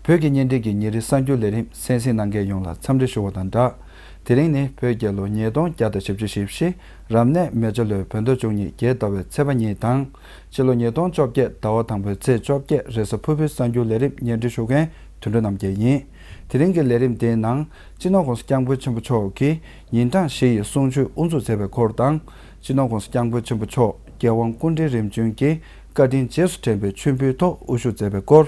བོད་ཀྱི་གཉེན་སྒྲིག་གི་ཉིན་རེའི་གསར་འགྱུར་ལས་རིམ་གསན་གཟིགས་གནང་མཁན་ཡོངས་ལ་འཚམས་འདྲི་ཞུ་བ་དང་སྦྲགས། དེ་རིང་ནི་བོད་རྒྱལ་ལོ་ཉིས་སྟོང་བརྒྱ་དང་བཞི་བཅུ་ཞེ་བཞི། རབ་གནས་མེ་བྱ་ལོའི་བོད་ཟླ་བཅུ་གཉིས་རྒྱལ་ཟླ་བའི་ཚེས་པ་གཉིས་དང། སྤྱི་ལོ་ཉིས་སྟོང་བཅོ་བརྒྱད་ཟླ་བ་དང་པོའི་ཚེས་བཅོ་བརྒྱད་རེས་ས་ཕུར་བུའི་གསར་འགྱུར་ལས་རིམ་ཉེར་འབྲི་ཞུ་མཁན་དུད་འགྲོ་རྣམ་རྒྱལ་ཡིན། དེ་རིང་གི་ལས་རིམ་དེའི་ནང་སྤྱི་ནོར ྋགོང་ས ྋསྐྱབས་མགོན་ཆེན་པོ་མཆོག་གིས་ཉིན་གྲངས་བཞི་ཡི་གསུང་ཆོས་དབུ་འཛུགས་མཛད་པའི་སྐོར་དང། སྤྱི་ནོར ྋགོང་ས ྋསྐྱབས་མགོན་ཆེན་པོ་མཆོག་རྒྱལ་དབང་སྐུ་འཕྲེང་རིམ་བྱོན་གྱི་བཀའ་དྲིན་རྗེས་སུ་དྲན་པའི་མཆོད་འབུལ་ཐོག་དབུ་བཞུགས་མཛད་པའི་སྐོར།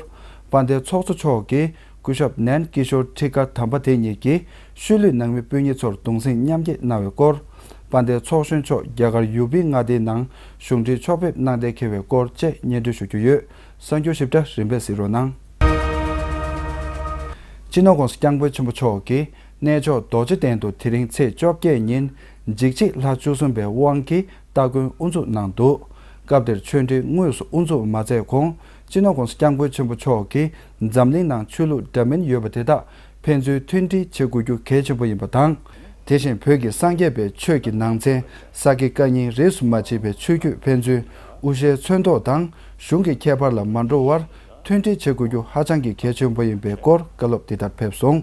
དཔའ་ཟླའི་ཚོགས་གཙོ་མཆོག་གིས་སྐུ་ཞབས་ནན་ཀི་ཤོར་ཁྲི་ཀ་དམ་པ་དེ་ཉིད་ཀྱིས་ཤུལ་ལུས་ནང་མི་སྤུན་ཉེ་ཚོར་གདུང་སེམས་མཉམ་སྐྱེད་གནང་བའི་སྐོར། དཔའ་ལྡན་ཚོགས་གཞོན་མཆོག་རྒྱ་གར་ཡུ་བི་མངའ་སྡེའི་ནང་གཞུང་འབྲེལ་ཕྱོགས་ཕེབས་གནང་གཏན་འཁེལ་བའི་སྐོར་བཅས་སྙན་སྒྲོན་ཞུ་རྒྱུ་ཡོད་གསར་འགྱུར་ཞིབ་ཕྲ་རིམ་པས་གཟིགས་རོགས་གནང། སྤྱི་ནོར་ཀོང་སི་སྐྱབས་མགོན་ཆེན་པོ་མཆོག་གིས་གནས་མཆོག་རྡོ་རྗེ་གདན་དུ་དེ་རིང་ཚེས་བཅོ་བརྒྱད་ཉིན་འཇིགས་བྱེད་ལྷ་བཅུ་གསུམ་པའི་དབང་གི་སྟ་གོན་དབུ་འཛུགས་གནང་འདུག་སྐབས་དེར་ཆོས་འབྲེལ་དངོས་སུ་དབུ་འཛུགས་མ་མཛད་གོང་སྤྱི་ནོར་ཀོང་སི་སྐྱབས་མགོན་ཆེན་པོ་མཆོག་གིས་འཛམ་གླིང་ནང་ཆོས་ལུགས་འདྲ་མིན་ཡོད་པ་དེ་དག་ཕན་ཚུན་མཐུན་སྒྲིལ་བྱེད་དགོས་རྒྱུ་གལ་ཆེན་པོ་ཡིན་པ་དང། དེ་བཞིན་བོད་ཀྱི་སངས་རྒྱས་པའི་ཆོས་ཀྱི་ནང་ཚན་ས་དགེ་བཀའ་རྙིང་རིས་སུ་མ་ཕྱེས་པའི་ཆོས་བརྒྱུད་ཕན་ཚུན་དབུ་ཞྭའི་མཚོན་ཐོག་དང་གཞུང་གི་ཁྱད་པར་ལ་མ་འགྲོ་བར་མཐུན་སྒྲིལ་བྱེད་དགོས་རྒྱུ་ཧ་ཅང་གི་གལ་ཆེན་པོ་ཡིན་པའི་སྐོར་བཀའ་སློབ་འདི་ལྟར་ཕེབས་སོང།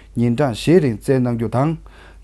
ཉིན་གྲངས་བཞིའི་རིང་བསྩལ་གནང་རྒྱུ་དང།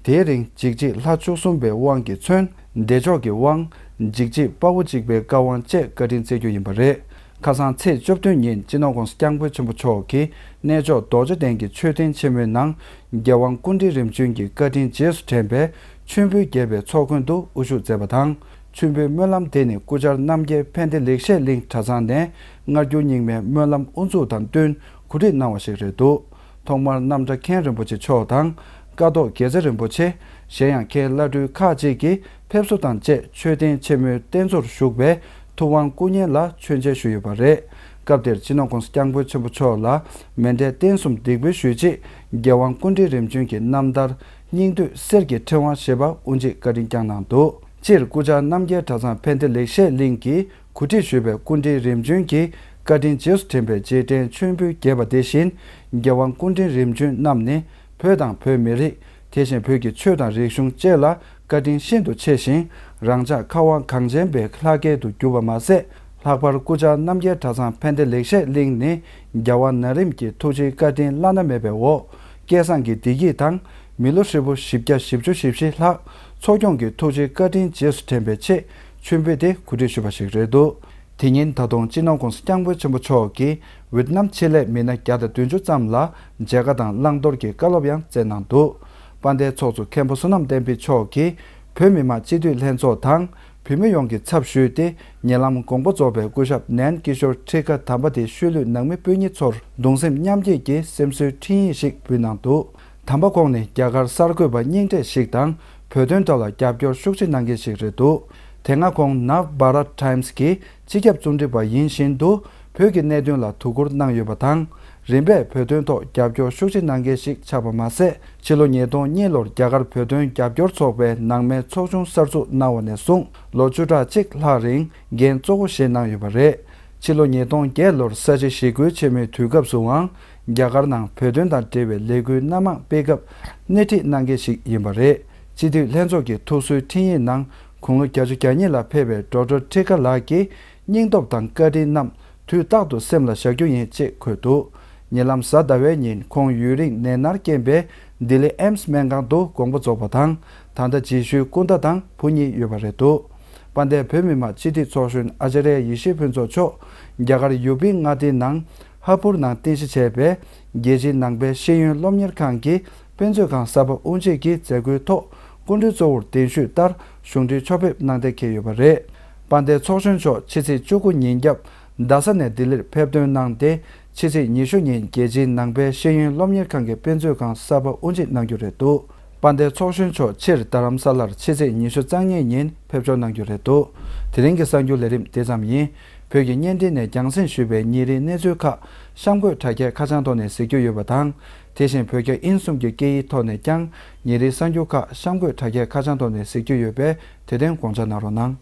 དེའི་རིང་འཇིགས་བྱེད་ལྷ་བཅུ་གསུམ་པའི་དབང་གིས་མཚོན་བདེ་མཆོག་གི་དབང། འཇིགས་བྱེད་དཔའ་བོ་གཅིག་པའི་བཀའ་དབང་བཅས་བཀའ་དྲིན་བསྩལ་རྒྱུ་ཡིན་པ་རེད། ཁ་སང་ཚེས་བཅུ་བདུན་ཉིན་སྤྱི་ནོར ྋགོང་ས ྋསྐྱབས་མགོན་ཆེན་པོ་མཆོག་གིས་གནས་མཆོག་རྡོ་རྗེ་གདན་གྱི་མཆོད་རྟེན་ཆེན་མོའི་ནང་རྒྱལ་དབང་ཀུན་འདྲིལ་རིམ་བྱོན་གྱི་བཀའ་དྲིན་རྗེས་སུ་དྲན་པའི་མཆོད་འབུལ་རྒྱས་པའི་ཚོགས་མགོན་དུ་དབུ་བཞུགས་མཛད་པ་དང་མཆོད་འབུལ་སྨོན་ལམ་དེ་ནི་སྐུ་བཅར་རྣམ་རྒྱལ་ཕན་བདེ་ལེགས་བཤད་གླིང་གྲྭ་ཚང་ནས་སྔར་འགྱུར་རྙིང་མའི་སྨོན་ལམ་དབུ་འཛུགས་དང་བསྟུན་གོ་སྒྲིག་གནང་བ་ཞིག་རེད་འདུག་ཐོག་མར་རྣམ་གྲྭ་མཁན་རིན་པོ་ཆེ་མཆོག་དང། ཀ་ཐོག་དགེ་རྩེ་རིན་པོ་ཆེ། གཞན་ཡང་མཁན་བླ་སྤྲུལ་ཁག་གཅིག་གིས་ཕེབས་བསུ་དང་བཅས་མཆོད་རྟེན་ཆེན་མོའི་རྟེན་གཙོར་བཞུགས་པའི་ཐུབ་དབང་སྐུ་བརྙན་ལ་མཆོད་མཇལ་ཞུས་ཡོད་པ་རེད། སྐབས་དེར་སྤྱི་ནོར་ཀུང་སི་སྐྱབས་མགོན་ཆེན་པོ་མཆོག་ལ་མེ་མདའི་རྟེན་གསུམ་འདེགས་འབུལ་ཞུས་རྗེས་རྒྱལ་དབང་ཀུན་འདྲིལ་རིམ་བྱོན་གྱི་རྣམ་ཐར་སྙིང་བསྡུས་གསེར་གྱི་ཕྲེང་བ་ཞེས་པ་དབུ་འབྱེད་བཀའ་དྲིན་བསྐྱངས་གནང་འདུག་སྤྱིར་སྐུ་བཅར་རྣམ་རྒྱལ་གྲྭ་ཚང་ཕན་བདེ་ལེགས་བཤད་གླིང་གི་གུ་བསྒྲིགས་ཞུས་པའི་སྐུ་འཕྲེང་རིམ་བྱོན་གྱི་བཀའ་དྲིན་རྗེས་སུ་དྲན་པའི་རྗེས་དྲན་མཆོད་འབུལ་རྒྱས་པ་དེ་བཞིན་རྒྱལ་དབང་སྐུ་འཕྲེང་རིམ་བྱོན་རྣམས་ནི་བོད་དང་བོད་མི་རིགས་དེ་བཞིན་བོད་ཀྱི་ཆོས་དང་རིག་གཞུང་བཅས་ལ་བཀའ་དྲིན་ཤིན་ཏུ་ཆེ་ཞིང་རང་ཅག་ཁ་བ་གངས་ཅན་པའི་ལྷ་སྐལ་དུ་གྱུར་པ་མ་ཟད་ལྷག་པར་སྐུ་བཅར་རྣམ་རྒྱལ་གྲྭ་ཚང་ཕན་བདེ་ལེགས་བཤད་གླིང་ནི་རྒྱལ་དབང་ན་རིམ་གྱི་ཐུགས་རྗེའི་བཀའ་དྲིན་བླ་ན་མེད་པའི་འོ་སྐལ་བཟང་གི་བདེ་སྐྱིད་དང་མི་ལོ་ཧྲིལ་པོ་བཞི་བརྒྱ་བཞི་བཅུ་བཞི་བཞི་ལྷག་འཚོ་སྐྱོང་གི་ཐུགས་རྗེའི་བཀའ་དྲིན་རྗེས་སུ་དྲན་པའི་ཆེས་མཆོད་འབུལ་དེ་གོ་སྒྲིག་ཞུས་པ་ཞིག་རེད་འདུག་དེ་ཉིན་ད་དུང་སྤྱི་ནོར་ཀུང་སི་སྐྱབས་མགོན་ཆེན་པོ་མཆོག་གིས་ཝིཏ་ནམ་ཆེད་ལས་མི་སྣ་བརྒྱ་དང་བདུན་ཅུ་ཙམ་ལ་མཇལ་ཁ་དང་བླང་དོར་གྱི་བཀའ་སློབ་ཡང་སྩལ་གནང་འདུག་པ་འདས་ཚོགས་གཙོ་མཁན་པོ་བསོད་ནམས་བསྟན་འཕེལ་མཆོག་གིས་བོད་མི་མང་སྤྱི་འཐུས་ལྷན་ཚོགས་དང་བུད་མེད་ཡོངས་ཀྱི་ཚབ་ཞུས་ཏེ་ཉེ་ལམ་དགོངས་པ་རྫོགས་པའི་སྐུ་ཞབས་ནན་ཀི་ཤོར་ཁྲི་ཀ་དམ་པ་དེ་ཤུལ་ལུས་ནང་མི་སྤུན་གཉིས་ཚོར་གདུང་སེམས་མཉམ་སྐྱེད་ཀྱི་སེམས་གསོའི་འཕྲིན་ཡིག་ཞིག་འབུལ་གནང་འདུག་དམ་པ་ཁོང་ནི་རྒྱ་གར་གསར་འགོད་པ་རྙིང་གྲས་ཤིག་དང་བོད་དོན་ཐོག་ལ་རྒྱབ་སྐྱོར་ཤུགས་ཆེ་གནང་མཁན་ཞིག་རེད་འདུག་དེ་སྔ་ཁོང Nav Bharat Times གི་སྤྱི་ཁྱབ་རྩོམ་སྒྲིག་པ་ཡིན་བཞིན་དུ་བོད་ཀྱི་གནད་དོན་ལ་དོ་ཁུར་གནང་ཡོད་པ་དང། རིམ་པས་བོད་དོན་ཐོག་རྒྱབ་སྐྱོར་ཤུགས་ཆེ་གནང་མཁན་ཞིག་ཆགས་པ་མ་ཟད་ཕྱི་ལོ་ཉིས་སྟོང་གཉིས་ལོར་རྒྱ་གར་བོད་དོན་རྒྱབ་སྐྱོར་ཚོགས་པའི་ནང་མའི་ཚོགས་ཆུང་གསར་འཛུགས་གནང་བ་ནས་བཟུང་ལོ་བཅུ་ཕྲག་གཅིག་ལྷག་རིང་འགན་གཙོ་བོ་བཞེས་གནང་ཡོད་པ་རེད། ཕྱི་ལོ་ཉིས་སྟོང་བརྒྱད་ལོར་ས་བྱི་ཞི་རྒོལ་ཆེན་མོའི་དུས་སྐབས་སུའང་རྒྱ་གར་ནང་བོད་དོན་དང་འབྲེལ་བའི་ལས་འགུལ་སྣ་མང་སྤེལ་སྐབས་སྣེ་ཁྲིད་གནང་མཁན་ཞིག་ཡིན་པ་རེད། སྤྱི་འཐུས་ལྷན་ཚོགས་ཀྱི་ཐུགས་གསོའི་འཕྲིན་ཡིག་ནང་དགུང་ལོ་གྱ་བཅུ་གྱ་གཉིས་ལ་ཕེབས་པའི་འགྲོ་གྲོལ་ཁྲི་ཀ་ལགས་ཀྱི་སྙིང་སྟོབས་དང་བཀའ་དྲིན་རྣམས་དུས་རྟག་ཏུ་སེམས་ལ་བཞག་རྒྱུ་ཡིན་ཅེས་འཁོད་འདུག་ཉེ་ལམ་གཟའ་ཟླ་བའི་ཉིན་ཁོང་ཡུན་རིང་ནད་མནར་རྐྱེན་པས་ལྡི་ལི་ཨེམ་སི་སྨན་ཁང་དུ་དགོངས་པ་རྫོགས་པ་དང་ད་ལྟ་རྗེས་ཤུལ་སྐུ་ཟླ་དང་བུ་གཉིས་ཡོད་པ་རེད་འདུག་དཔལ་ལྡན་བོད་མི་མང་སྤྱི་འཐུས་ཚོགས་གཞོན་ཨཅཱ་རའི་ཡེ་ཤེས་ཕུན་ཚོགས་མཆོག་རྒྱ་གར་ཡུ་པི་མངའ་སྡེའི་ནང་ཧ་པུར་ནང་རྟེན་གཞི་བྱས་པའི་རྒྱལ་སྤྱིའི་ནང་པའི་ཤེས་ཡོན་སློབ་གཉེར་ཁང་གི་དཔེ་མཛོད་ཁང་གསར་པ་དབུ་འབྱེད་ཀྱི་མཛད་སྒོའི་ཐོག་སྐུ་མགྲོན་གཙོ་བོར་གདན་ཞུས་ལྟར་གཞུང་འབྲེལ་ཕྱོགས་ཕེབས་གནང་གཏན་འཁེལ་ཡོད་པ་རེད། པ་འདས་ཚོགས་གཞོན་མཆོག་ཕྱི་ཚེས་བཅུ་དགུ་ཉིན་རྒྱབ་རྡ་ས་ནས་ལྡི་ལིར་ཕེབས་ཐོན་གནང་སྟེ་ཕྱི་ཚེས་ཉི་ཤུ་ཉིན་རྒྱལ་སྤྱིའི་ནང་པའི་ཤེས་ཡོན་སློབ་གཉེར་ཁང་གི་དཔེ་མཛོད་ཁང་གསར་པ་དབུ་འབྱེད་གནང་རྒྱུ་རེད་འདུག་པ་འདས་ཚོགས་གཞོན་མཆོག་ཕྱིར་རྡ་རམ་ས་ལར་ཕྱི་ཚེས་ཉི་ཤུ་རྩ་ལྔའི་ཉིན་ཕེབས་འབྱོར་གནང་རྒྱུ་རེད་འདུག་དེ་རིང་གི་གསར་འགྱུར་ལས་རིམ་དེ་ཙམ་ཡིན། བོད་ཀྱི་བརྙན་འཕྲིན་ནས་རྒྱང་སྲིང་ཞུས་པའི་ཉིན་རེའི་གནས་ཚུལ་ཁག་གཤམ་འཁོད་དྲ་རྒྱའི་ཁ་བྱང་ཐོག་ནས་གཟིགས་རྒྱུ་ཡོད་པ་དང། དེ་བཞིན་བོད་རྒྱ་དབྱིན་གསུམ་གྱི་སྐད་ཡིག་ཐོག་ནས་ཀྱང་ཉིན་རེའི་གསར་འགྱུར་ཁག་གཤམ་འཁོད་དྲ་རྒྱའི་ཁ་བྱང་ཐོག་ནས་གཟིགས་རྒྱུ་ཡོད་པས་དེ་དོན་དགོངས་འཇགས་གནང་རོགས་གནང།